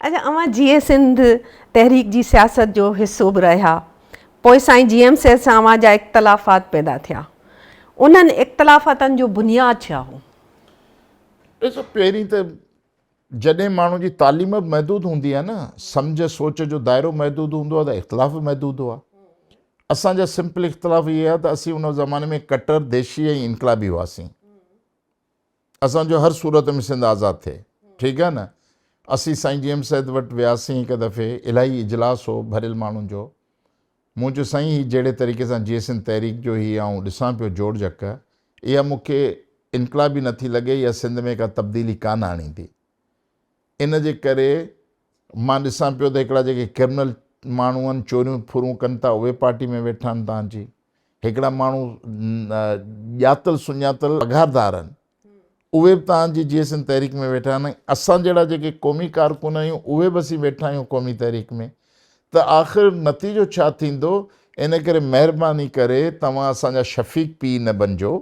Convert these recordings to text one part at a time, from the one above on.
اچا اوهان جيئي سنڌ تحريڪ جي سياست جو حصو به رهيا پوء سائين جي ايم سيد سان اوهان جا اختلافات پيدا ٿيا انهن اختلافاتن جو بنياد ڇا هو؟ ڏسو پهرين ته جڏهن ماڻهو جي تعليم به محدود هوندي آهي نه سمجهه سوچ جو دائرو محدود هوندو آهي ته اختلاف به محدود هئا اسان جا سمپل اختلاف اهي آهي ته اسين ان زماني ۾ ڪٽر ديشي ۽ انقلابي هئاسين اسان جو هر صورت ۾ سنڌ آزاد ٿئي ٺيڪ آهي نه اسين سائين جي ايم سيد وٽ وياسين هڪ دفعي الاهي اجلاس هو ڀريل ماڻهن جو مون چيو سائين هي جهڙي طريقي سان جيئي سنڌ تحريڪ جو هي آئون ڏسان پيو جوڙ جڪ اها مون کي انقلابي نه ٿي لڳي يا سنڌ ۾ ڪا تبديلي ڪانه آڻيندي ان جي ڪري مان ڏسان پيو ته هڪڙا جيڪي ڪرمنل ماڻهون چوريون ڦرون ڪن ٿا اهي پارٽي ۾ ويٺا آهن تان جي هڪڙا ماڻهو ڄاتل سڃاتل پگهاردار آهن اهي به توهان جي جي سنڌ تحريڪ ۾ ويٺا آهن ۽ اسان جهڙا جيڪي قومي ڪارڪن آهيون اهي به اسين ويٺا آهيون قومي تحريڪ ۾ ته آخر نتيجو ڇا ٿيندو ان ڪري مهرباني ڪري توهان اسان جا شفيق پي نه بنجو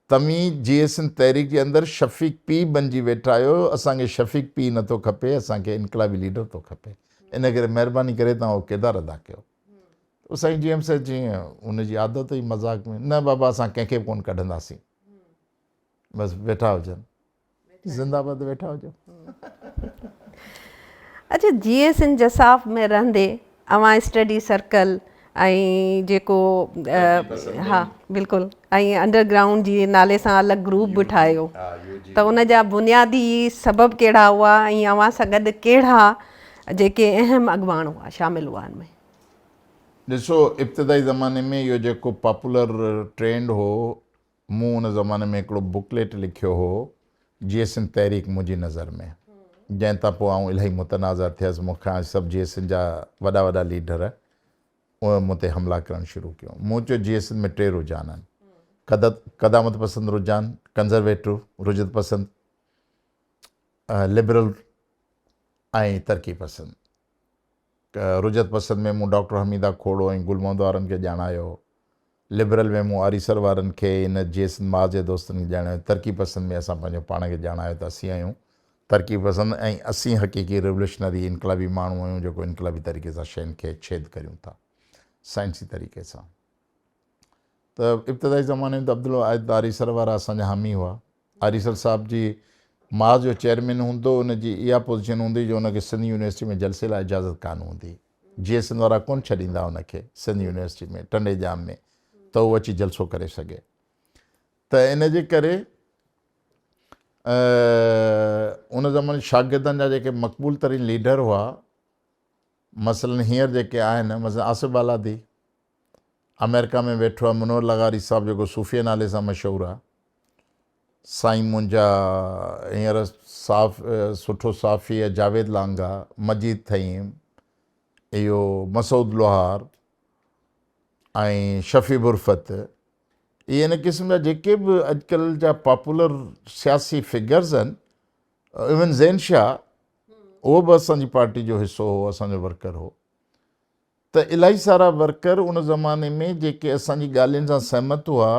توهين جي سنڌ تحريڪ جي اندر شفيق پي بنجي ويٺا آهيو اسان کي شفيق پي نه ٿو کپي اسان کي انقلابي ليڊر ٿو کپي ان ڪري مهرباني ڪري توهان اهو ڪردار ادا ڪيو تو سائين جي ايم سي چيئن ان جي عادت هئي مذاق ۾ نه بابا اسان ڪنهن کي به ڪونه ڪڍنداسين بس ويٺا هجن زنده باد ويٺا هجن اچھا جي ايس ان جساف ۾ رهندي اوهان اسٽڊي سرڪل ۽ جيڪو ها بلڪل ۽ انڊر گرائونڊ جي نالي سان الڳ گروپ به ٺاهيو ته ان جا بنيادي سبب ڪهڙا هئا ۽ اوهان سان گڏ ڪهڙا جيڪي اهم اڳواڻ هئا شامل هئا ان ۾. ڏسو ابتدائي زماني ۾ اهو جيڪو پاپولر ٽرينڊ هو مون ان زماني ۾ هڪڙو بڪليٽ لکيو هو جيئي سنڌ تحريڪ منهنجي نظر ۾ جنهن تان پوء آئون الائي متنازع ٿيس مون کي آئي سڀ جيئي سنڌ جا وڏا وڏا ليڊر اهي مون تي حملا ڪرڻ شروع ڪيو مون چيو جيئي سنڌ ۾ ٽي رجحان آهن قدامت پسند رجحان ڪنزرويٽو رجعت پسند لبرل ۽ ترقي پسند، رجعت پسند ۾ مون ڊاڪٽر حميده کوڙو ۽ گل محمد وارن کي ڄاڻايو، لبرل ۾ مون آريسر وارن کي ۽ نه جي سنڌ ماء جي دوستن کي ڄاڻايو، ترقي پسند ۾ اسان پنهنجو پاڻ کي ڄاڻايو ته اسين آهيون، ترقي پسند ۽ اسين حقيقي ريوليوشنري انقلابي ماڻهو آهيون جيڪو انقلابي طريقي سان شين کي ڇيد ڪريون ٿا سائنسي طريقي سان ته ابتدائي زماني ۾ ته عبدالواحد آريسر وارا اسان جا حامي هئا آريسر صاحب جي ماض جو چيئرمين هوندو ان جي اها پوزيشن هوندي جو ان کي سنڌ يونيورسٽي ۾ جلسي لاء اجازت ڪانه هوندي جيئن سنڌ وارا ڪونه ڇڏيندا ان کي سنڌ يونيورسٽي ۾ ٽنڊي ڄام ۾ ته هو اچي جلسو ڪري سگهي ته ان جي ڪري ان زماني شاگردن جا جيڪي مقبول ترين ليڊر هئا مثلا هينئر جيڪي آهن مثلا آصف بالادي آمريڪا ۾ ويٺو آهي منور لغاري صاحب جيڪو صوفيه نالي سان مشهور آهي سائين منهنجا هينئر صاف سٺو صافي جاويد لانگا مجيد ٿهيم اهو مسعود لوهار ۽ شفيع برفت اي ان قسم جا جيڪي به اڄڪلهه جا پاپولر سياسي فگرز آهن ايون زين شاهه اهو به اسان جي پارٽي جو حصو هو اسان جو ورڪر هو ته الائي سارا ورڪر ان زماني ۾ جيڪي اسان جي ڳالهين سان سهمت هئا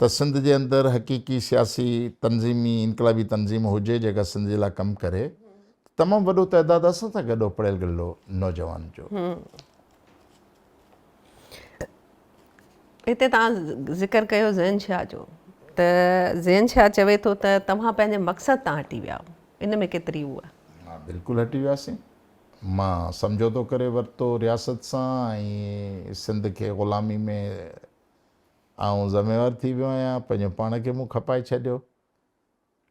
ته سنڌ جي اندر حقيقي سياسي تنظيمي انقلابي تنظيم هجي جيڪا سنڌ جي لاء ڪم ڪري ته تمام وڏو تعداد اسان سان گڏ هو پڙهيل گڏل هو نوجوان جو هتي توهان ذڪر ڪيو زين شاهه جو ته زين شاهه چوي ٿو ته توهان پنهنجي مقصد تان هٽي ويا ان ۾ ڪيتري هو بلڪل هٽي وياسين مان سمجهوتو ڪري ورتو رياست سان ۽ سنڌ کي غلامي ۾ آئون ذميوار ٿي ويو آهيان پنهنجو پاڻ کي مون کپائي ڇڏيو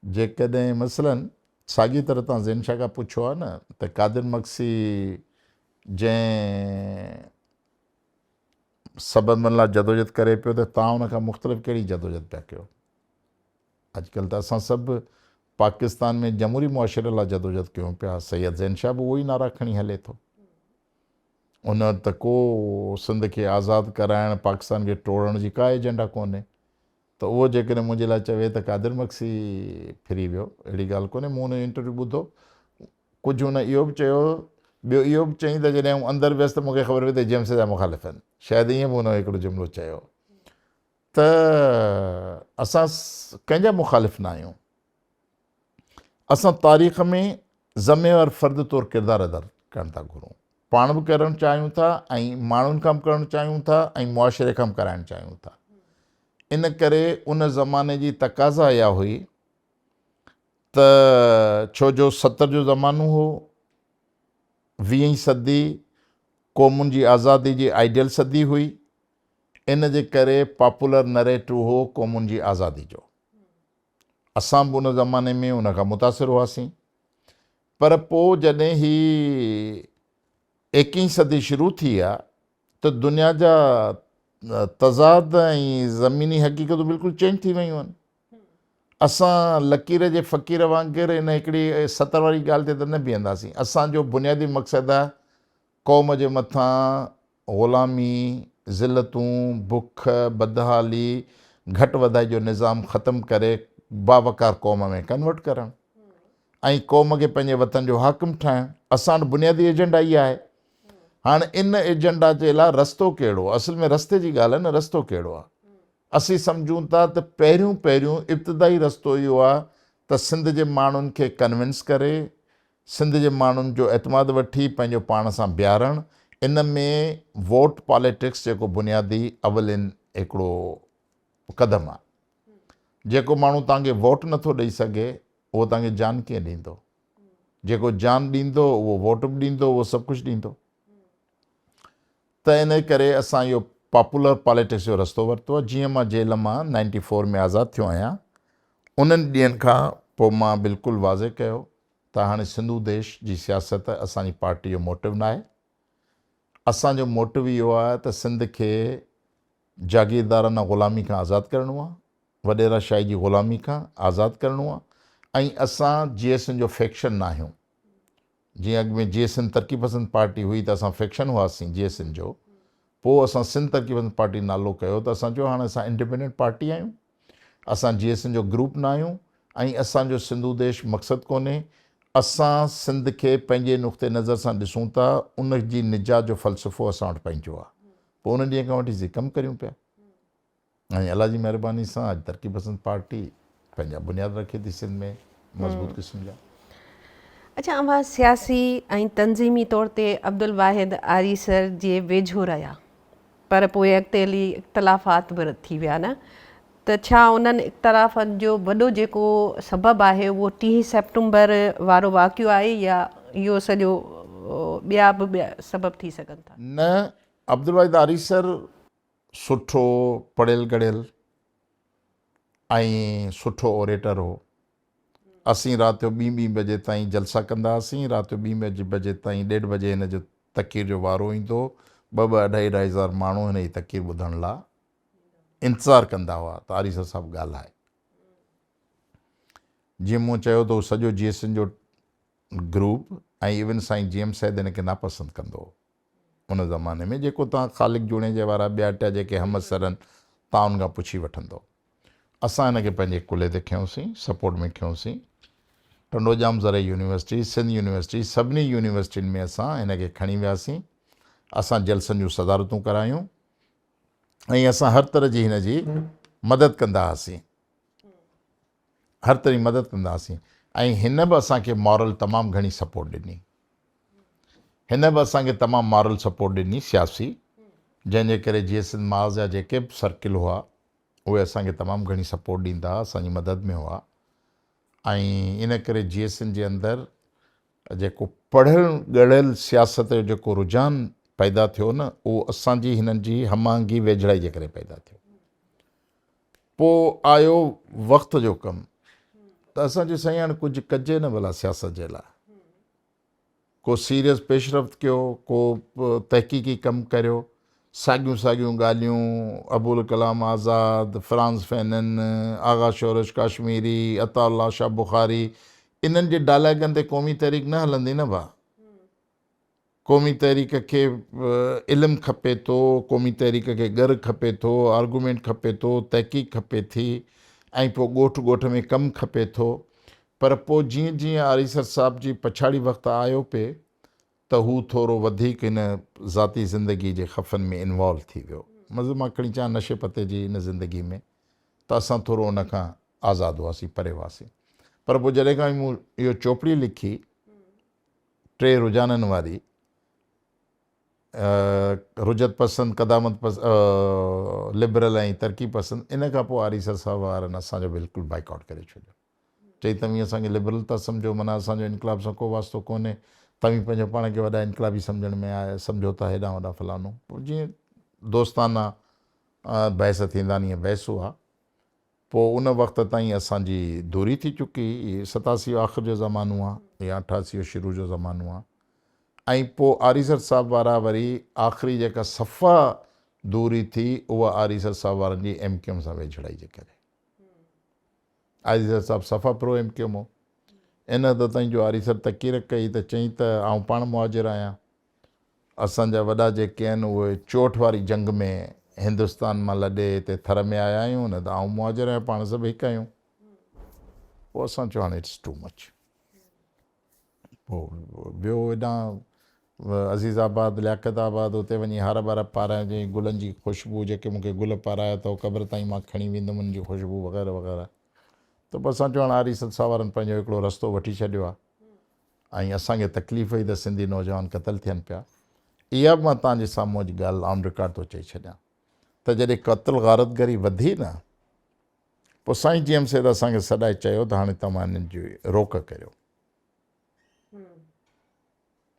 جيڪڏهن مثلا ساڳي طرح تان زين شاهه کان پڇو ها نه ته قادر مگسي جنهن سببن لا جدوجد ڪري پيو ته تان ان کان مختلف ڪهڙي جدوجد پيا ڪيو. اڄ ڪلهه ته اسان سڀ پاڪستان ۾ جمهوري معاشري لاء جدوجهد ڪيون پيا، سيد زين شاهه به اهو ئي نعرا کڻي هلي ٿو. ان وقت ته ڪو سنڌ کي آزاد ڪرائڻ، پاڪستان کي ٽوڙڻ جي ڪا ايجنڊا ڪونهي ته اهو جيڪڏهن منهنجي لاء چوي ته قادر مگسي ڦري ويو، اهڙي ڳالهه ڪونهي، مون ان جو انٽرويو ٻڌو، ڪجهه ان اهو به چيو، ٻيو اهو به چيائين ته جڏهن آئون اندر ويس ته مون کي خبر پئي ته جيمس جا مخالف آهن، شايد ائين به ان هڪڙو جملو چيو. ته اسان ڪنهن جا مخالف نه آهيون، اسان تاريخ ۾ ذميوار فرد طور ڪردار ادا ڪرڻ ٿا گهرون، پاڻ به ڪرڻ چاهيون ٿا ۽ ماڻهن کان به ڪرڻ چاهيون ٿا ۽ معاشري کان به ڪرائڻ چاهيون ٿا. ان ڪري ان زماني جي تقاضا اها هئي ته ڇو جو ستر جو زمانو هو، ويهين صدي قومن جي آزادي جي آئيڊيل صدي هئي، ان جي ڪري پاپولر نريٽو هو قومن جي آزادي جو. اسان به ان زماني ۾ ان کان متاثر هئاسين. پر پوء جڏهن هي ايڪيهين صدي شروع ٿي آ ته دنيا جا تضاد ۽ زميني حقيقتون بلڪل چينج ٿي ويون آهن. اسان لڪير جي فقير وانگر ان هڪڙي سطر واري ڳالهه تي ته نه بيهنداسين. اسان جو بنيادي مقصد آ قوم جي مٿان غلامي، ذلتون، بک، بدحالي، گهٽ وڌائي جو نظام ختم ڪري باوقار قوم ۾ ڪنورٽ ڪرڻ ۽ قوم کي پنهنجي وطن جو حاڪم ٺاهڻ اسان وٽ بنيادي ايجنڊا اهي آهي هاڻ ان ايجنڊا جي لاء رستو ڪهڙو اصل ۾ رستي جي ڳالهه نه رستو ڪهڙو آهي اسين سمجهون ٿا ته پهريون پهريون ابتدائي رستو اهو آهي ته سنڌ جي ماڻهن کي ڪنوينس ڪري سنڌ جي ماڻهن جو اعتماد وٺي پنهنجو پاڻ سان بيهارڻ ان ۾ ووٽ پاليٽڪس جيڪو بنيادي اولين هڪڙو قدم آ جيڪو ماڻهو توهان کي ووٽ نه ٿو ڏئي سگهي اهو توهان کي جان ڪيئن ڏيندو جيڪو جان ڏيندو اهو ووٽ به ڏيندو اهو سڀ ڪجهه ڏيندو ته ان ڪري اسان اهو پاپولر پاليٽڪس جو رستو ورتو آ جيئن مان جيل مان نائنٽي فور ۾ آزاد ٿيو آهيان انهن ڏينهن کان پوء مان بلڪل واضح ڪيو ته هاڻي سنڌو ديش جي سياست اسان جي پارٽي جو موٽو ناهي، اسان جو موٽو اهو آهي ته سنڌ کي جاگيردارانه غلامي کان آزاد ڪرڻو آهي، وڏيرا شاهي جي غلامي کان آزاد ڪرڻو آهي ۽ اسان جي ايس اين جو فيڪشن ناهيون، جيئن اڳ ۾ جي ايس اين ترقي پسند پارٽي هئي ته اسان فيڪشن هئاسين جي ايس اين جو، پوء اسان سنڌ ترقي پسند پارٽي نالو ڪيو ته اسان چيو هاڻي اسان انڊپينڊنٽ پارٽي آهيون. اسان جي ايس اين جو گروپ نه آهيون ۽ اسان جو سنڌو ديش مقصد ڪونهي، اسان سنڌ کي پنهنجي نقطه نظر سان ڏسون ٿا، ان جي نجات جو فلسفو اسان وٽ پنهنجو آهي، پوء ان ڏينهن کان وٺي سي ڪم ڪريون پيا ۽ الله جي مهرباني سان اڄ ترقي پسند پارٽي پنهنجا بنياد رکي ٿي سنڌ ۾ مضبوط قسم جا. اڇا اوهان سياسي ۽ تنظيمي طور تي عبدالواحد آريسر جي ويجهو رهيا پر پوء اڳتي هلي اختلافات به رد ٿي ويا نه ته ڇا انهن اختلافن جو وڏو جيڪو سبب آهي اهو ٽيهين سيپٽمبر وارو واقعو آهي يا اهو سڄو ٻيا به سبب ٿي سگهن ٿا. نه عبدالواحد آريسر سٺو پڙهيل ڳڙهيل ۽ سٺو اوريٽر هو. اسين رات جو ٻين ٻين بجي تائين جلسا ڪندا هئاسين، رات جو ٻين ٻين بجي تائين ڏيڍ بجي هن جو تقرير جو وارو ايندو هو، ٻه ٻه اڍائي اڍائي هزار ماڻهو هن جي تقرير ٻڌڻ لا انتظار ڪندا هئا ته آريسر صاحب ڳالهائي. جيئن مون چيو ته هو سڄو جي ايس اين جو گروپ ۽ ايون سائين جي ايم سيد هن کي ناپسند ڪندو هو. ان زماني ۾ جيڪو توهان خالق جوڻيجي وارا ٻيا ٽيا جيڪي همعصرن تعاون کان پڇي وٺندؤ. اسان هن کي پنهنجي ڪلهي تي کنيوسين، سپورٽ ۾ کنيوسين. ٽنڊوڄام زرعي يونيورسٽي، سنڌ يونيورسٽي سڀني يونيورسٽين ۾ اسان هن کي کڻي وياسين. اسان جلسن جون صدارتون ڪرايون ۽ اسان هر طرح جي هن جي مدد ڪندا هئاسين. هر طرح مدد ڪنداسين ۽ هن به اسان کي مارل تمام گهڻي سپورٽ ڏني هن به اسان کي تمام مارل سپورٽ ڏني سياسي جنهن جي ڪري جيئي سنڌ ماز جا جيڪي به سرڪل هئا اهي اسان کي تمام گهڻي سپورٽ ڏيندا هئا اسان جي مدد ۾ هئا ۽ ان ڪري جيئي سنڌ جي اندر جيڪو پڙهيل ڳڙهيل سياست جو جيڪو رجحان پيدا ٿيو نه اهو اسان جي هنن جي هم آهنگي ويجهڙائي جي ڪري پيدا ٿيو پوء آيو وقت جو ڪم ته اسان چيو سائين هاڻي ڪجهه ڪجي نه ڀلا سياست جي لاء ڪو سيريس پيشرفت ڪيو ڪو تحقيقي ڪم ڪريو ساڳيون ساڳيون ڳالهيون ابوالڪلام آزاد فرانز فينن آغا شورش ڪاشميري عطا الله شاهه بخاري انهن جي ڊائلاگن تي قومي تحريڪ نه هلندي نه ڀا قومي تحريڪ کي علم کپي ٿو، قومي تحريڪ کي ڳر کپي ٿو، آرگومينٽ کپي ٿو، تحقيق کپي ٿي ۽ پوء ڳوٺ ڳوٺ ۾ ڪم کپي ٿو پر پوء جيئن جيئن آريسر صاحب جي پڇاڙي وقت آيو پي ته هو ٿورو وڌيڪ هن ذاتي زندگي جي خفن ۾ انوالو ٿي ويو مطلب مان کڻي چان نشي پتي جي ان زندگي ۾ ته اسان ٿورو ان کان آزاد هئاسين پري هئاسين پر پوء جڏهن کان مون اهو چوپڙي لکي ٽي رجحانن واري رجعت پسند، قدامت پسند، لبرل ۽ ترقي پسند ان کان پوء آريسر صاحب وارن اسان جو بلڪل بائيڪاٽ ڪري ڇڏيو. چئي توهين اسان کي لبرل ٿا سمجهو معنيٰ اسان جو انقلاب سان ڪو واسطو ڪونهي، توهين پنهنجو پاڻ کي وڏا انقلابي سمجهڻ ۾ آيا سمجهو ٿا هيڏانهن هوڏانهن فلانو جيئن دوستانه بحث ٿيندانيء بحث هئا. پوء ان وقت تائين اسان جي دوري ٿي چڪي، ستاسيء آخر جو زمانو آ يا اٺاسيء شروع جو زمانو آ ۽ پوء آريسر صاحب وارا وري آخري جيڪا صفا دوري ٿي اها آريسر صاحب وارن جي ايم ڪيو ايم سان ويجهڙائي جي ڪري آريسر صاحب صفا پرو ايم ڪيو ايم هو ان حد تائين جو آريسر تقير ڪئي ته چئي ته آئون پاڻ مهاجر آهيان اسان جا وڏا جيڪي آهن اهي چوٽ واري جنگ ۾ هندستان مان لڏي هتي ٿر ۾ آيا آهيون نه ته آئون مهاجر آهيان پاڻ سڀ هڪ آهيون پوء اسان چيو هاڻي اٽس ٽو مچ پوء ويو هيڏانهن عزيز آباد لياقت آباد اتي وڃي هار ٻار پارايا جي گلن جي خوشبو جيڪي مون کي گل پارايا اٿو قبر تائين مان کڻي ويندم ان جي خوشبو وغيره وغيره ته پوء اسان چيو هاڻي آريسد ساوارن پنهنجو هڪڙو رستو وٺي ڇڏيو آهي ۽ اسان کي تڪليف هئي ته سنڌي نوجوان قتل ٿين پيا. اها به مان توهان جي سامهون اڄ ڳالهه آن رڪارڊ ٿو چئي ڇڏيان ته جڏهن قتل غارت گري وڌي نه پوء سائين جي ايم سيد اسان کي سڏائي چيو ته هاڻي توهان انهن جي روڪ ڪريو.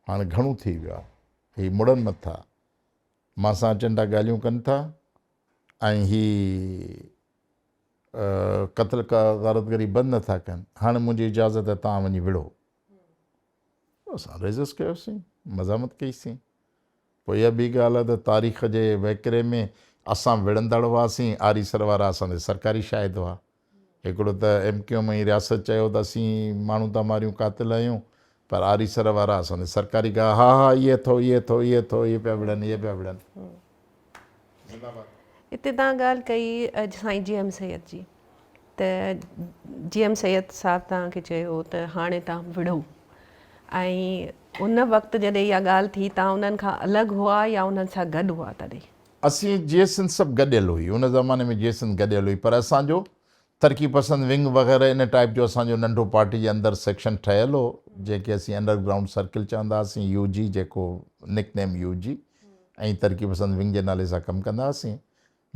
هاڻي گهڻو ٿي ويو آهي. هي مڙن نه ٿا. مان سان اچن ٿا ڳالهيون ڪن ٿا ۽ هي قتل ڪا غارت گري بند نه ٿا ڪن هاڻي منهنجي اجازت آهي توهان وڃي وڙهو اسان ريزسٽ ڪيوسين مزاحمت ڪئيسين پوء اها ٻي ڳالهه آهي ته تاريخ جي وهڪري ۾ اسان وڙهندڙ هئاسين آري سر وارا اسان تي سرڪاري شاهد هئا هڪڙو ته ايم ڪيو ايم ۽ رياست چيو ته اسين ماڻهو ٿا ماريون قاتل آهيون پر آري سر وارا اسان جي سرڪاري گاهه ها ها اي اٿو اي اٿو اي اٿو اي پيا وڙهن اي پيا وڙهن زنده باد. اتي توهان ڳالهه ڪئي سائين جي ايم سيد جي ته جي ايم سيد صاحب توهان کي چيو ته هاڻي توهان وڙهو ۽ ان وقت جڏهن اها ڳالهه ٿي توهان انهن کان الڳ هئا يا انهن سان گڏ هئا تڏهن؟ اسين جي سنڌ سڀ گڏيل هئي ان زماني ۾ جي سنڌ گڏيل هئي پر اسان جو ترقي پسند ونگ وغيره ان ٽائيپ جو اسان جو ننڍو پارٽي جي اندر سيڪشن ٺهيل هو جنهن کي اسين انڊر گرائونڊ سرڪل چوندا هئاسين يو جي جيڪو نڪ نيم يو جي ۽ ترقي پسند ونگ جي نالي سان ڪم ڪندا هئاسين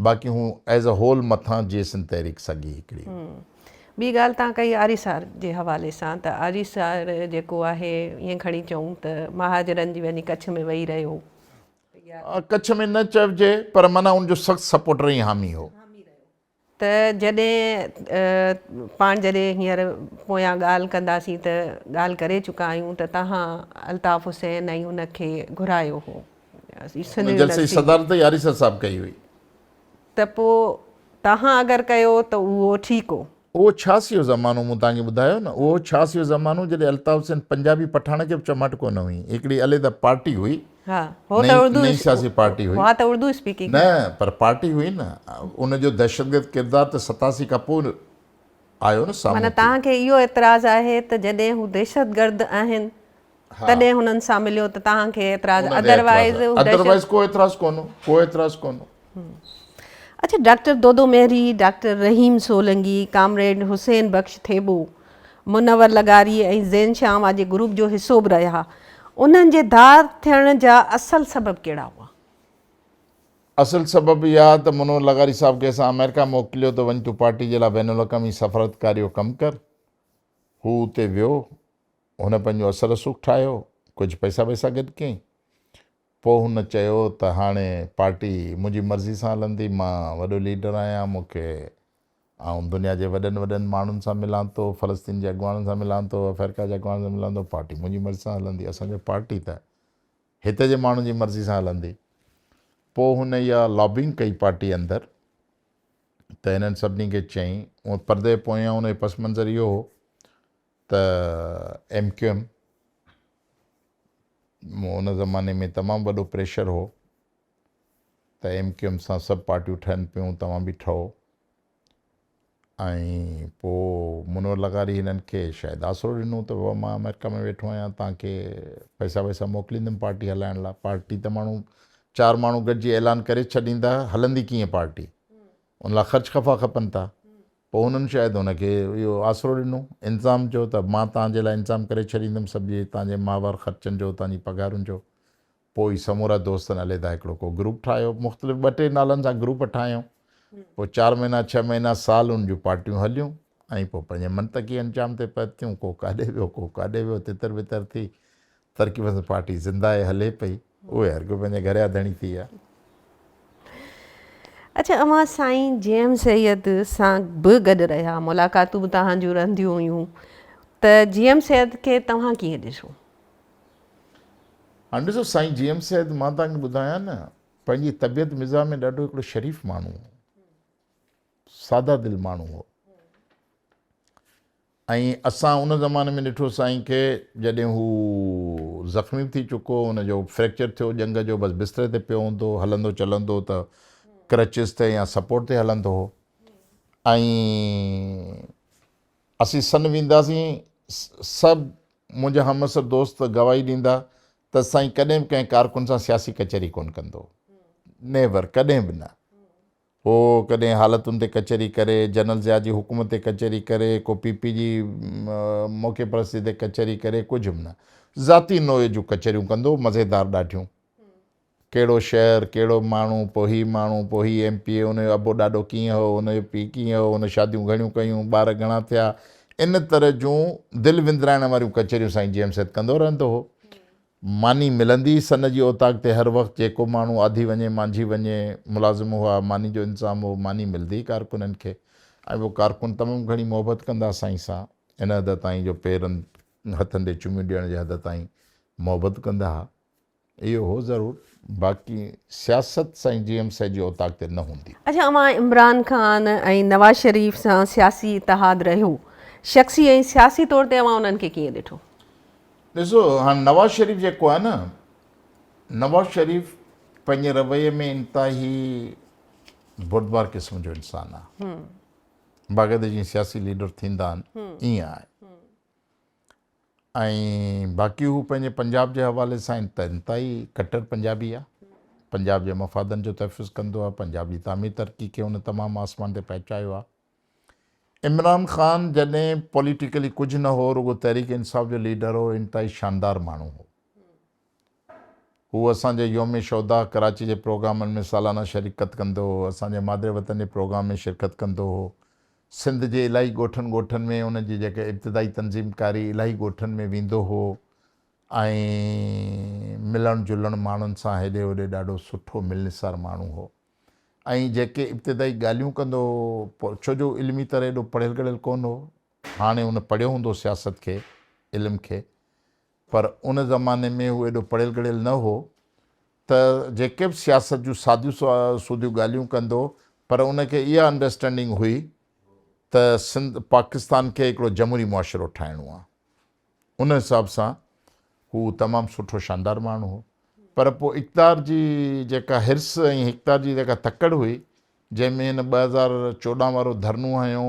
باقي هون ايز اي هول مٿان جي سنڌ تحريڪ سگهي هڪڙي هئي. ٻي ڳالهه توهان ڪئي آري سار جي حوالي سان ته آري سار جيڪو آهي ائين کڻي چئون ته مهاجرن جي وڃي ڪڇ ۾ ويهي رهيو ڪڇ ۾ نه چئجي پر معنيٰ ان جو سخت سپورٽر ۽ حامي هو. ته جڏهن پاڻ جڏهن هينئر پويان ڳالهه ڪنداسين ته ڳالهه ڪري چڪا آهيون ته توهان الطاف حسين ۽ هن کي گهرايو هو سنڌ يونيورسٽي جي صدارت ئي آريسر صاحب ڪئي هئي. ته پوء توهان اگر ڪيو ته اهو ٺيڪ هو. اهو ڇا سيو زمانو مون توهان کي ٻڌايو نه اهو ڇا سيو زمانو جڏهن الطاف حسين پنجابي پٺاڻ کي به چماٽ ڪونه هئي هڪڙي عليحده پارٽي هئي ها هو ته اردو نئين سياسي پارٽي هئي ها ته اردو اسپيڪنگ نه پر پارٽي هئي نه ان جو دهشتگرد ڪردار ته ستاسي کان پوء آيو نه سامهون معنيٰ توهان کي اهو اعتراض آهي ته جڏهن هو دهشتگرد آهن تڏهن هنن سان مليو ته توهان کي اعتراض اڌروائيز ادروائيز ڪو اعتراض ڪونه ڪو اعتراض ڪونه اچا doctor Dodo Mahar, doctor Rahim Solangi, comrade Hussain Bakhsh Thebo, Munawar لغاري ۽ زين شاهه واجي گروپ جو حصو به رهيا انهن جي ڌار ٿيڻ جا اصل سبب ڪهڙا هئا؟ اصل سبب اها ته منور لغاري صاحب کي اسان آمريڪا موڪليو ته وڃ تون پارٽي جي لاء بين الاقوامي سفارتڪاري جو ڪم ڪر. هو اتي ويو، هن پنهنجو اثر رسوخ ٺاهيو، ڪجهه پئسا وئسا گڏ ڪيائين. پوء هن چيو ته هاڻي پارٽي منهنجي مرضي سان هلندي، مان وڏو ليڊر آهيان، مون کي آئون دنيا جي وڏن وڏن ماڻهن سان ملان ٿو، فلسطين جي اڳواڻن سان ملان ٿو، افريڪا جي اڳواڻن سان ملان ٿو، پارٽي منهنجي مرضي سان هلندي، اسان جي پارٽي ته هتي جي ماڻهن جي مرضي سان هلندي. پوء هن اها لابنگ ڪئي پارٽي اندر ته هنن سڀني کي چيائين، هونء پردي پويان هن جو پس منظر اهو هو ته ايم ڪيو ايم مون ان زماني ۾ تمام وڏو پريشر هو ته ايم ڪيو ايم سان سڀ پارٽيون ٺهن پيون توهان به ٺهو ۽ پوء منور لغاري هنن کي شايد آسرو ڏنو ته بابا مان آمريڪا ۾ ويٺو آهيان توهان کي پئسا وئسا موڪليندم پارٽي هلائڻ لاء پارٽي ته ماڻهو چار ماڻهو گڏجي اعلان ڪري ڇڏيندا هلندي ڪيئن پارٽي ان لاء خرچ خفا کپن ٿا. پوء هنن شايد هن کي اهو آسرو ڏنو، انتظام چيو ته مان توهان جي لاء انتظام ڪري ڇڏيندم سڀني توهان جي ماهوار خرچن جو، توهان جي پگهارن جو. پوء هي سمورا دوستن عليحده هڪڙو ڪو گروپ ٺاهيو، مختلف ٻه ٽي نالن سان گروپ ٺاهيائون. پوء چار مهينا، ڇهه مهينا، سال ان جون پارٽيون هليون ۽ پوء پنهنجي منطقي انجام تي پهتيون. ڪو ڪاڏي ويو، ڪو ڪاڏي ويو، تتر بتر ٿي. ترقي پسند پارٽي زنده آهي هلي پئي اهي هر ڪو پنهنجي گهر جا ڌڻي ٿي ويا. اڇا اوهان سائين جي ايم سيد سان به گڏ رهيا ملاقاتون به توهان جون رهنديون هيون ته جي ايم سيد کي توهان ڪيئن ڏسو؟ هاڻ ڏسو سائين جي ايم سيد مان توهان کي ٻڌايان نه پنهنجي طبيعت مزاح ۾ ڏاڍو هڪڙو شريف ماڻهو هو ساده دل ماڻهو هو ۽ اسان ان زماني ۾ ڏٺو سائين کي جڏهن هو زخمي به ٿي چڪو ان جو فريڪچر ٿيو ڄنگهه جو بس بستري تي پيو هوندو هلندو چلندو ته ڪرچز تي يا سپورٽ تي هلندو هو ۽ اسين سن وينداسين سڀ منهنجا همعصر دوست گواهي ڏيندا ته سائين ڪڏهن به ڪنهن ڪارڪن سان سياسي ڪچهري ڪونه ڪندو نيور ڪڏهن به نه هو ڪڏهن حالتن تي ڪچهري ڪري، جنرل ضياء جي حڪم تي ڪچهري ڪري، ڪو پي پي جي موقعي پرستي تي ڪچهري ڪري، ڪجهه به نه. ذاتي نوعيت جون ڪچهريون ڪندو، مزيدار ڏاڍيون. ڪهڙو شهر، ڪهڙو ماڻهو، پوء هي ماڻهو، پوء هي ايم پي اي، ان جو ابو ڏاڏو ڪيئن هو، ان جو پيء ڪيئن هو، هن شاديون گهڻيون ڪيون، ٻار گهڻا ٿيا، ان طرح جون دل وندرائڻ واريون ڪچهريون سائين جي ايم سيد ڪندو رهندو هو. ماني ملندي ئي سن جي اوطاق تي هر وقت جيڪو ماڻهو آڌي وڃي مانجهي وڃي ملازم هئا ماني جو انتظام هو ماني ملندي ئي ڪارڪنن کي ۽ اهي ڪارڪن تمام گهڻي محبت ڪندا سائين سان ان حد تائين جو پيرن هٿن تي چميون ڏيڻ جي حد تائين محبت ڪندا ها اهو هو ضرور باقي سياست سائين جي ايم سي جي اوطاق تي نه هوندي. اڇا اوهان عمران خان ۽ نواز شريف سان سياسي اتحاد رهيو شخصي ۽ سياسي طور تي اوهان انهن کي ڪيئن ڏٺو؟ ڏسو هاڻي نواز شريف جيڪو آهي نه نواز شريف پنهنجي رويي ۾ انتهائي بردبار قسم جو انسان آهي باقاعده جيئن سياسي ليڊر ٿيندا آهن ائين آهي ۽ باقي هو پنهنجي پنجاب جي حوالي سان ته انتهائي ڪٽر پنجابي آهي پنجاب جي مفادن جو تحفظ ڪندو آهي پنجاب جي تعمير ترقي کي هن تمام آسمان تي پهچايو آهي عمران خان جڏهن پوليٽيڪلي ڪجهه نه هو رڳو تحريڪ انصاف جو ليڊر هو انتهائي شاندار ماڻهو هو هو اسان جي يوم شهدا ڪراچي جي پروگرامن ۾ سالانه شريڪت ڪندو هو اسان جي مادر وطن جي پروگرام ۾ شرڪت ڪندو هو سنڌ جي الاهي ڳوٺن ڳوٺن ۾ ان جي جيڪا ابتدائي تنظيم ڪاري الاهي ڳوٺن ۾ ويندو هو ۽ ملڻ جلڻ ماڻهن سان هيڏي هوڏي ڏاڍو سٺو ملنسار ماڻهو هو ۽ جيڪي ابتدائي ڳالهيون ڪندو هو پوء ڇو جو علمي طرح ايڏو پڙهيل ڳڙهيل ڪونه هو هاڻي هن پڙهيو هوندو سياست کي علم کي پر ان زماني ۾ هو ايڏو پڙهيل ڳڙهيل نه هو ته جيڪي به سياست جون ساديون سوديون ڳالهيون ڪندو پر ان کي اها انڊرسٽينڊنگ هئي ته سنڌ پاڪستان کي هڪڙو جمهوري معاشرو ٺاهڻو آهي ان حساب سان هو تمام سٺو شاندار ماڻهو هو پر پوء اقتدار جي جيڪا حرس ۽ اقتدار جي جيڪا تڪڙ هئي جنهن ۾ هن ٻه هزار چوڏهن وارو ڌرنو هنيو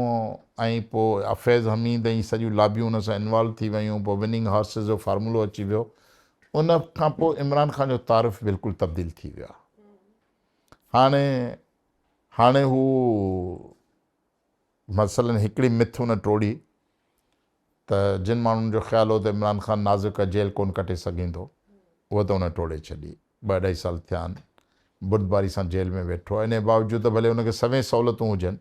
۽ پوء افيض حميد ۽ سڄيون لابيون ان سان انوالو ٿي ويون پوء وننگ هارسز جو فارمولو اچي ويو ان کان پوء عمران خان جو تعارف بلڪل تبديل ٿي ويو هاڻي هاڻي هو مثلاً هڪڙي مٿ ان ٽوڙي ته جن ماڻهن جو خيال هو ته عمران خان نازڪ ڪا جيل ڪونه ڪٽي سگهندو اهو ته ان ٽوڙي ڇڏي ٻه اڍائي سال ٿيا آهن بردباري سان جيل ۾ ويٺو آهي انهي باوجود ته ڀلي ان کي سوين سهولتون هجن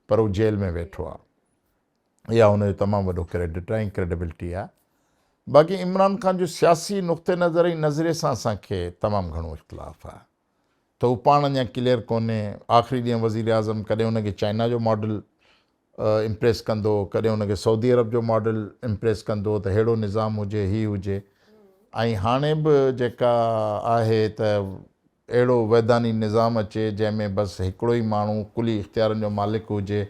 پر هو جيل ۾ ويٺو آهي اها ان جو تمام وڏو ڪريڊٽ آهي ۽ ڪريڊبلٽي آهي باقي عمران خان جو سياسي نقطه نظر ۽ نظريي سان اسان کي تمام گهڻو اختلاف آهي. ته هو پاڻ اڃا ڪليئر ڪونهي، آخري ڏينهن وزيراعظم ڪڏهن ان کي چائنا جو ماڊل امپريس ڪندو، ڪڏهن ان کي سعودي عرب جو ماڊل امپريس ڪندو ته ههڙو نظام هجي، هي هجي ۽ هاڻي به جيڪا آهي ته اهڙو ويڌاني نظام اچي جنهن ۾ بس هڪڙو ئي ماڻهو ڪلي اختيارن جو مالڪ هجي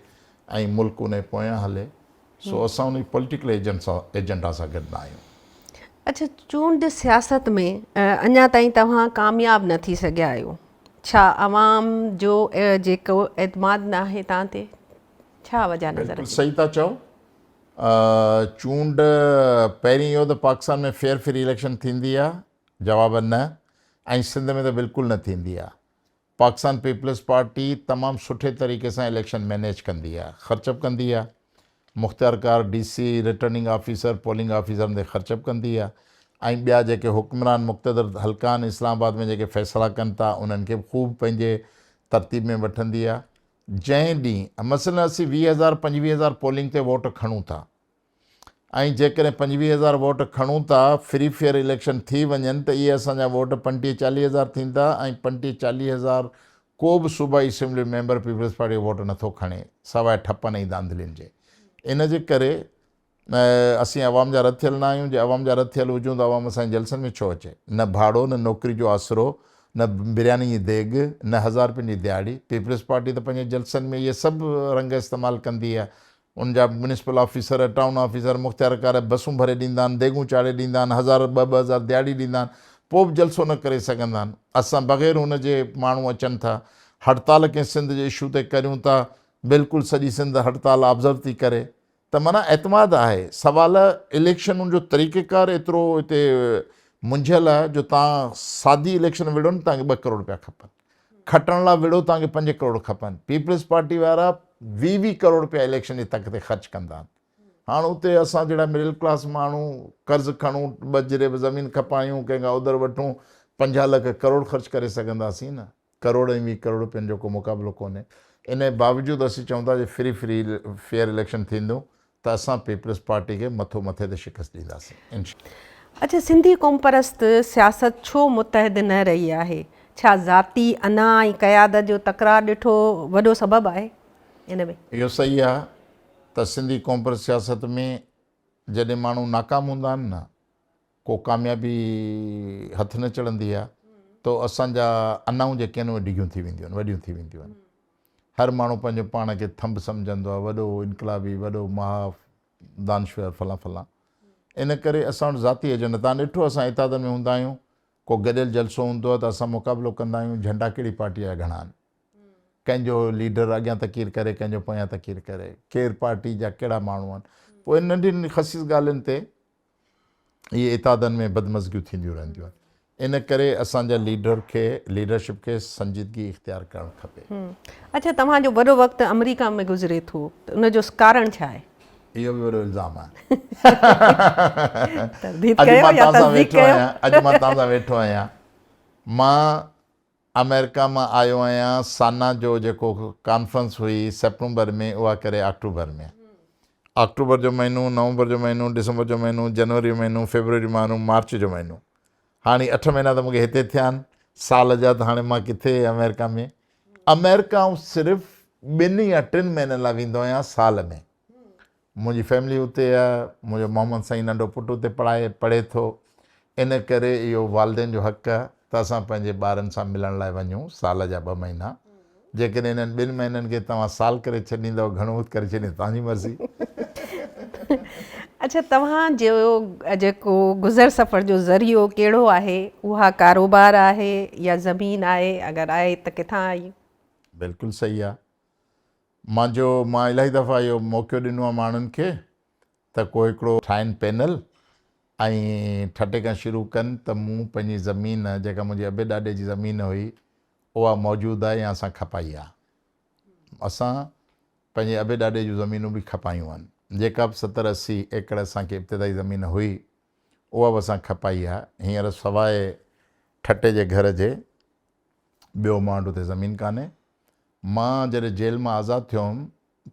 ۽ ملڪ انهي پويان هلي سو اسان انهي پوليٽيڪل ايجنڊا سان گڏ نه آهيون. اڇا چونڊ سياست ۾ اڃا تائين توهان ڪامياب نه ٿي سگهيا آهيو ڇا عوام جو جيڪو اعتماد نه آهي توهان تي ڇا وجهه نظر اچي ٿي؟ بلڪل صحيح ٿا چئو چونڊ پهرين اهو ته پاڪستان ۾ فيئر فري اليڪشن ٿيندي آهي جواب نه ۽ سنڌ ۾ ته بلڪل نه ٿيندي آهي پاڪستان پيپلز پارٽي تمام سٺي طريقي سان اليڪشن مينيج ڪندي آ خرچ به ڪندي آ مختيار ڪار D C returning officer polling آفيسرن تي خرچ به ڪندي آ ۽ ٻيا جيڪي حڪمران مقتدر حلقان اسلام آباد ۾ جيڪي فيصلا ڪن تا انهن کي به خوب پنهنجي ترتيب ۾ وٺندي آ جنهن ڏينهن مثلا اسين ويهه هزار پنجويهه هزار پولنگ تي ووٽ کڻون ٿا ۽ جيڪڏهن پنجويهه هزار ووٽ کڻون ٿا، فري فيئر اليڪشن ٿي وڃن ته اهي اسان جا ووٽ پنٽيهه چاليهه هزار ٿيندا ۽ پنٽيهه چاليهه هزار ڪو به صوبائي اسيمبلي ميمبر پيپلز پارٽي جو ووٽ نٿو کڻي سواء ٺپن ۽ ڌانڌلين جي ان جي ڪري اسين عوام جا رٿيل نه آهيون جي عوام جا رٿيل هجون ته عوام اسان جي جلسن ۾ ڇو اچي نه ڀاڙو نه نوڪري جو آسرو نه برياني جي ديڳ نه هزار رپين جي ديهاڙي پيپلز پارٽي ته پنهنجي جلسن ۾ اهي سڀ رنگ استعمال ڪندي آهي ان جا ميونسپل آفيسر، ٽائون آفيسر، مختيارڪار بسون ڀري ڏيندا آهن، ديڳون چاڙهي ڏيندا آهن، هزار ٻه ٻه هزار دهاڙي ڏيندا آهن، پوء به جلسو نه ڪري سگهندا آهن. اسان بغير ان جي ماڻهو اچن ٿا، هڙتال ڪنهن سنڌ جي اشو تي ڪريون ٿا، بلڪل سڄي سنڌ هڙتال آبزرو ٿي ڪري. ته معنيٰ اعتماد آهي. سوال اليڪشنن جو طريقيڪار ايترو هتي منجهيل آهي جو تان سادي اليڪشن وڙهو نه تان کي ٻه ڪروڙ پيا کپن. کٽڻ لا وڙهو توهان کي پنج ڪروڙ کپن پيپلز پارٽي وارا ويهه ويهه ڪروڙ رپيا اليڪشن جي تڪ تي خرچ ڪندا آهن هاڻ اتي اسان جهڙا مڊل ڪلاس ماڻهو قرض کڻون ٻه جريب زمين کپايون ڪنهن کان اودر وٺون پنجاهه لک ڪروڙ خرچ ڪري سگهنداسين نه ڪروڙ ۽ ويهه ڪروڙ رپين جو ڪو مقابلو ڪونهي انهي باوجود اسين چئون ٿا جي فري فري فيئر اليڪشن ٿيندو ته اسان پيپلز پارٽي کي مٿو مٿي تي شڪست ڏينداسين انشاء الله. اڇا سنڌي قومپرست سياست ڇو متحد نه رهي آهي ڇا ذاتي انا ۽ قيادت جو تڪرار ڏٺو وڏو سبب آهي ان ۾. اهو صحيح آهي ته سنڌي قومپرست سياست ۾ جڏهن ماڻهو ناڪام هوندا آهن نه ڪو ڪاميابي هٿ نه چڙهندي آهي ته اسان جا انائون جيڪي آهن اهي ڊگهيون ٿي وينديون آهن، وڏيون ٿي وينديون آهن. هر ماڻهو پنهنجو پاڻ کي ٿنڀ سمجهندو آهي، وڏو انقلابي، وڏو محاف، دانشور فلان فلان. ان ڪري اسان وٽ ذاتي ايجنڊا، تان ڏٺو اسان اتحاد ۾ هوندا آهيون، ڪو گڏيل جلسو هوندو آهي ته اسان مقابلو ڪندا آهيون، جهنڊا ڪهڙي پارٽيء جا گهڻا آهن. ڪنهن جو ليڊر اڳيان تقرير ڪري، ڪنهن جو پويان تقرير ڪري، ڪير پارٽي جا ڪهڙا ماڻهو آهن. پوء ننڍين خسيس ڳالهين تي. اهي اتحادن ۾ بدمزگيون ٿينديون رهنديون آهن ان ڪري اسان جا ليڊر کي ليڊرشپ کي سنجيدگي اختيار ڪرڻ کپي. اڇا توهان جو وڏو وقت آمريڪا ۾ گذري ٿو ته ان جو ڪارڻ ڇا آهي؟ اهو به وڏو الزام آهي. ترديد ڪيو يا تصديق ڪيو. اڄ مان توهان سان ويٺو آهيان. مان آمريڪا مان آيو آهيان سانا جو جيڪو ڪانفرنس هئي سيپٽمبر ۾ اها ڪري آڪٽوبر ۾ آڪٽوبر جو مهينو نومبر جو مهينو ڊسمبر جو مهينو جنوري جو مهينو فيبروري جو مهينو مارچ جو مهينو هاڻي اٺ مهينا ته مونکي هتي ٿيا آهن سال جا ته هاڻي مان ڪٿي آمريڪا ۾ آمريڪا آئون صرف ٻن يا ٽن مهينن لاء ويندو آهيان سال ۾ منهنجي فيملي اتي آهي، منهنجو محمد سائين ننڍو پٽ اتي پڙهائي پڙهي ٿو، ان ڪري اهو والدين جو حق آهي ته اسان پنهنجي ٻارن سان ملڻ لاء وڃون سال جا ٻه مهينا، جيڪڏهن انهن ٻن مهينن کي توهان سال ڪري ڇڏيندؤ گهڻو وقت ڪري ڇڏيندؤ توهان جي مرضي. اڇا توهان جو جيڪو گذر سفر جو ذريعو ڪهڙو آهي اها ڪاروبار آهي يا زمين آهي اگر آهي ته ڪٿان آئي؟ بلڪل صحيح آهي مان جو مان الاهي دفعا اهو موقعو ڏنو آهي ماڻهن کي ته ڪو هڪڙو ٺاهين پينل ۽ ٺٽي کان شروع ڪن ته مون پنهنجي زمين جيڪا منهنجي ابي ڏاڏي جي زمين هئي اها موجود آهي يا اسان کپائي آهي اسان پنهنجي ابي ڏاڏي جون زمينون به کپايون آهن جيڪا به ستر اسي ايڪڙ اسان کي ابتدائي زمين هئي اها به اسان کپائي آهي هينئر سواء ٺٽي جي گهر جي ٻيو مانڊ اتي زمين ڪانهي مان جڏهن جيل مان آزاد ٿيو هئم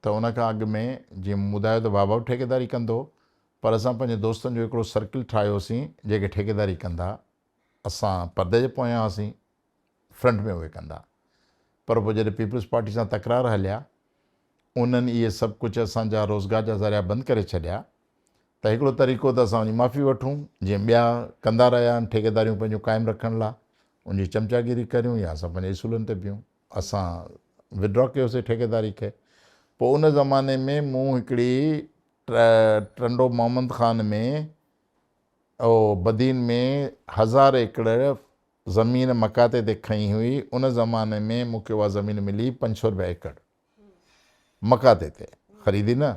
ته ان کان اڳ ۾ جيئن مون ٻڌايو ته بابا به ٺيڪيداري ڪندو هو پر اسان پنهنجي دوستن جو هڪڙو سرڪل ٺاهيو هوسين جيڪي ٺيڪيداري ڪندا اسان پردي جي پويان هئاسين فرنٽ ۾ اهي ڪندا پر پوء جڏهن پيپلز پارٽي سان تڪرار هليا انهن اهي سڀ ڪجهه اسان جا روزگار جا ذريعا بند ڪري ڇڏيا ته هڪڙو طريقو ته اسان ان جي معافي وٺون، جيئن ٻيا ڪندا رهيا آهن، ٺيڪيداريون پنهنجون قائم رکڻ لاء ان جي چمچاگيري ڪريون يا اسان پنهنجي اصولن تي بيهون. اسان Withdraw ڪيوسي ٺيڪيداري کي. پوء ان زماني ۾ مون هڪڙي ٽرنڊو محمد خان ۾ او بدين ۾ هزار ايڪڙ زمين مڪاتي تي کنئي هئي، ان زماني ۾ مون کي اها زمين ملي پنج سؤ رپيا ايڪڙ. مڪاتي تي خريدي نه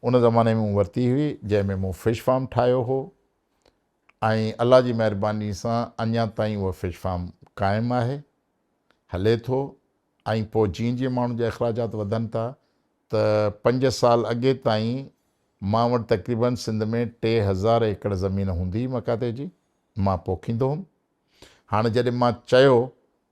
ان زماني ۾ مون ورتي هئي جنهن ۾ مون فش فارم ٺاهيو هو ۽ الله جي مهرباني سان اڃا تائين اهو فش فارم قائم آهي هلي ٿو ۽ پوء جيئن جيئن ماڻهن جا اخراجات وڌن ٿا ته پنج سال اڳي تائين مان وٽ تقريبن سنڌ ۾ ٽي هزار ايڪڙ زمين هوندي هئي مڪاتي جي مان پوکيندو هوم هاڻي جڏهن مان چيو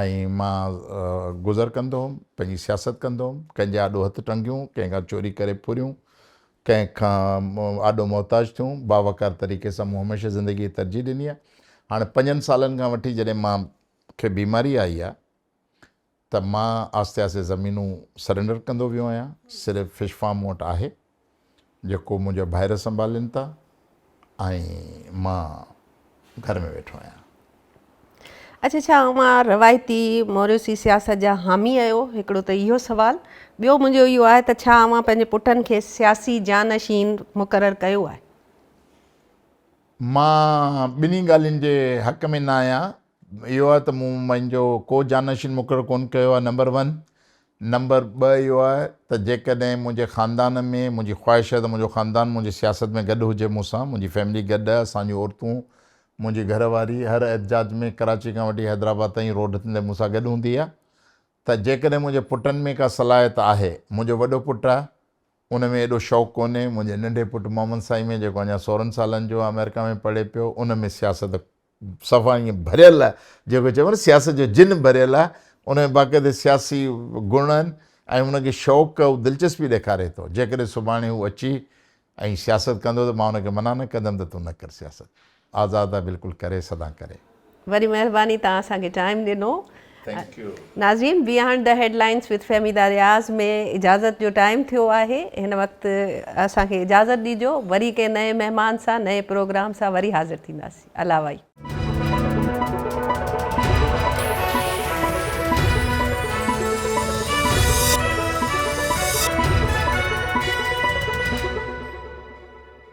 ۽ مان گذر ڪندو هوم، پنهنجي سياست ڪندو هوم، ڪنهن جي آڏو هٿ ٽنگيون، ڪنهن کان چوري ڪري ڦريون، ڪنهن کان آڏو محتاج ٿيون، باوقار طريقي سان مون هميشه زندگي کي ترجيح ڏني آهي. هاڻي پنجن سالن کان وٺي جڏهن مان کي بيماري آئي آهي ته مان آهستي آهستي زمينون سرينڊر ڪندو ويو آهيان صرف فش فارم مون وٽ آهي جيڪو منهنجا ڀائر سنڀالين ٿا ۽ مان گهر ۾ ويٺو آهيان. اڇا ڇا اوهان روايتي موريوسي سياست جا حامي اهيو؟ هڪڙو ته اهيو سوال ٻيو منهنجو اهيو آهي ته ڇا اوهان پنهنجي پٽن کي سياسي جانشين مقرر ڪيو آهي؟ مان ٻنهي ڳالهين جي حق ۾ نه آهيان اهو آهي ته مون پنهنجو ڪو جانشين مقرر ڪونه ڪيو آهي نمبر ون، نمبر ٻه اهو آهي ته جيڪڏهن منهنجي خاندان ۾ منهنجي خواهش آهي ته منهنجو خاندان منهنجي سياست ۾ گڏ هجي مون سان منهنجي فيملي گڏ آهي اسان جون عورتون منهنجي گهر واري هر احتجاج ۾ ڪراچي کان وٺي حيدرآباد تائين روڊ تي مون سان گڏ هوندي آهي ته جيڪڏهن منهنجي پٽن ۾ ڪا صلاحيت آهي منهنجو وڏو پٽ آهي ان ۾ ايڏو شوق ڪونهي منهنجي ننڍي پٽ محمد سائين ۾ جيڪو اڃا سورهن سالن جو آهي آمريڪا ۾ پڙهي پيو ان ۾ سياست صفا ائين ڀريل آهي جيڪو چئبو آهي نه سياست جو جن ڀريل آهي ان ۾ باقاعدي سياسي گڻ آهن ۽ ان کي شوق ۽ دلچسپي ڏيکاري ٿو جيڪڏهن سڀاڻي هو اچي ۽ سياست ڪندو ته مان ان کي منع نه ڪندم ته تون نه ڪر سياست آزاد آهي بلڪل ڪري سدان ڪري. وڏي مهرباني تهان اسان کي ٽائيم ڏنو. ناظرين behind the headlines with Fahmida Riaz ۾ اجازت جو ٽائيم ٿيو آهي هن وقت اسان کي اجازت ڏيجو وري ڪنهن نئين مهمان سان نئين پروگرام سان وري حاضر ٿينداسين الله وائي.